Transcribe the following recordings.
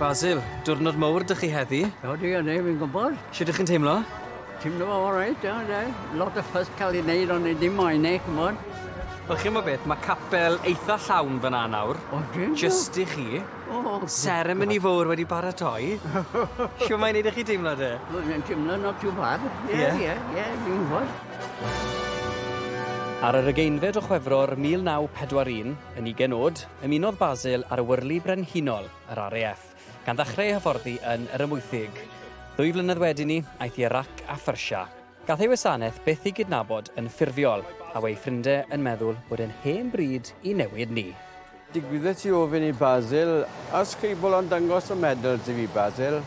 Basil, diwrnod mowr dych chi heddi. O, dwi yn ei, fi'n gwybod. Sut ydych chi'n teimlo? Teimlo fo all right, iawn, de. Lot o ffys cael ei wneud, ond ei dim moyn ei, cymod. Wel, chi'n gwybod beth, mae capel eitha llawn fyna nawr. O, dwi yn Just i chi. O! Seremoni fowr wedi baratoi. Shw mae'n neud i chi deimlo de? Wel mae'n teimlo not too bad. Ie? Ie ie ie dim yn posh. Ar yr ugeinfed o Chwefror 1941, yn ugen o'd, ymunodd Basil ar y Wyrlu Brenhinol, yr RAF, gan ddechrau ei hyfforddi yn Yr Amwythig. Ddwy flynedd wedyn 'ny, aeth i Irac a Phersia. Gall ei wasanaeth byth ei gydnabod yn ffurfiol, a wei ffrindie yn meddwl bod e'n hen bryd i newid ni. Digwyddes i ofyn i Basil os cebl o'n dangos y medals i fi, Basil?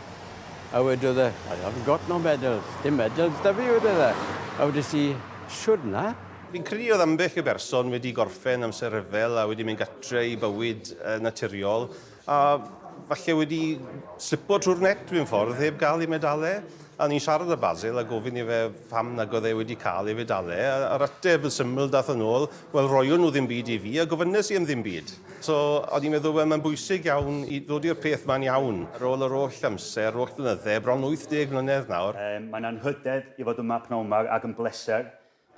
A wedodd e, I haven't got no medals, dim medals 'da fi, wedodd e. A wedes i, Shwd na? Fi'n credu oedd ambell i berson wedi gorffen amser rhyfel a wedi mynd gatre i bywyd naturiol A falle wedi slipo trwy'r net mewn ffordd heb gael ei medalau. A o'n i'n siarad â Basil a gofyn i fe pam nag oedd e wedi cael ei fedalau. A, a'r ateb yn syml daeth yn ôl, wel roion nhw ddim byd i fi a gofynes i am ddim byd. So o'n i'n meddwl, wel mae'n bwysig iawn i ddod i'r peth ma'n iawn. Ar ôl yr holl amser, yr holl flynydde, bron 80 mlynedd nawr. Mae 'na anrhydedd i fod yma pnawn 'ma ac yn bleser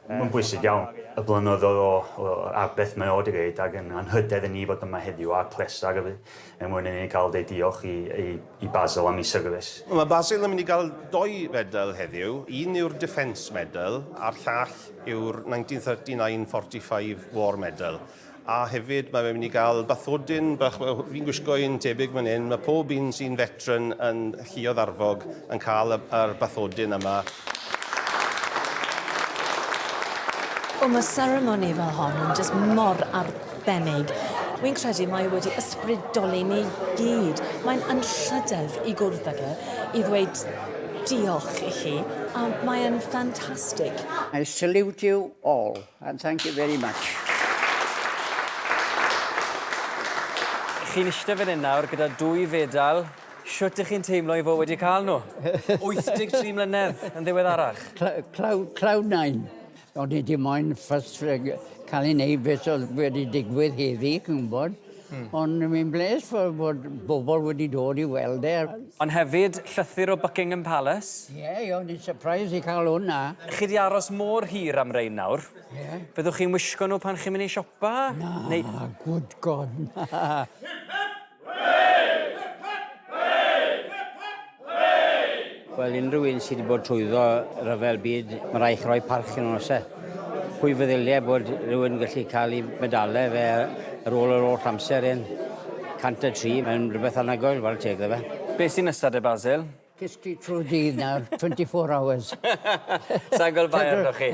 Mae'n bwysig iawn y blynyddoedd a'r beth mae o wedi gwneud ac yn anrhydedd i ni fod yma heddiw a'r pleser y bydd er mwyn i ni gael deud diolch i Basil am ei syrfis. Mae Basil yn mynd i gael dou fedal heddiw, un yw'r Defence Medal a'r llall yw'r 1939 Forty Five War Medal. A hefyd, mae fe'n mynd i gael bathodyn bach, fi'n gwisgo un tebyg fan hyn, mae pob un sy'n fetran yn Lluoedd Arfog yn cael y, yr bathodyn yma. Wel, mae seremoni fel hon yn jyst mor arbennig. Wi'n credu mae e wedi ysbrydoli ni gyd. Mae'n anrhydedd i gwrdd ag e, i ddweud diolch i chi, a mae'n ffantastig. I salute you all. And thank you very much. Chi'n eistedd fan hyn nawr gyda dwy fedal, shwt ych chi'n teimlo i fod wedi cael nhw? 83 mlynedd yn ddiweddarach. Cloud, cloud nine. O'n i di moyn ffys cael ei wneud beth oedd wedi digwydd heddi, chi'n gwybod. Mm. Ond mi'n bles fod, bod bobl wedi dod i weld e. Ond hefyd, llythyr o Buckingham Palace. Ie, yeah, ie, ond i'n surprise i cael hwnna. Chi di aros mor hir am rein nawr. Ie. Yeah. Byddwch chi'n wisgo nhw pan chi'n mynd i siopa? Na, Neu... good god, na. Wel, unrhyw un sydd wedi bod trwyddo rhyfel byd, mae rhaid chi roi parch yn nos e. Pwy feddyliau bod rhywun yn gallu cael ei medalau fe ar ôl yr holl amser hyn? 103, mae'n rhywbeth anhygoel, fel teg iddo fe. Be sy'n nesa de Basil? Cysgu trwy'r dydd nawr, 24 hours. Sai'n gweld bai arnoch chi.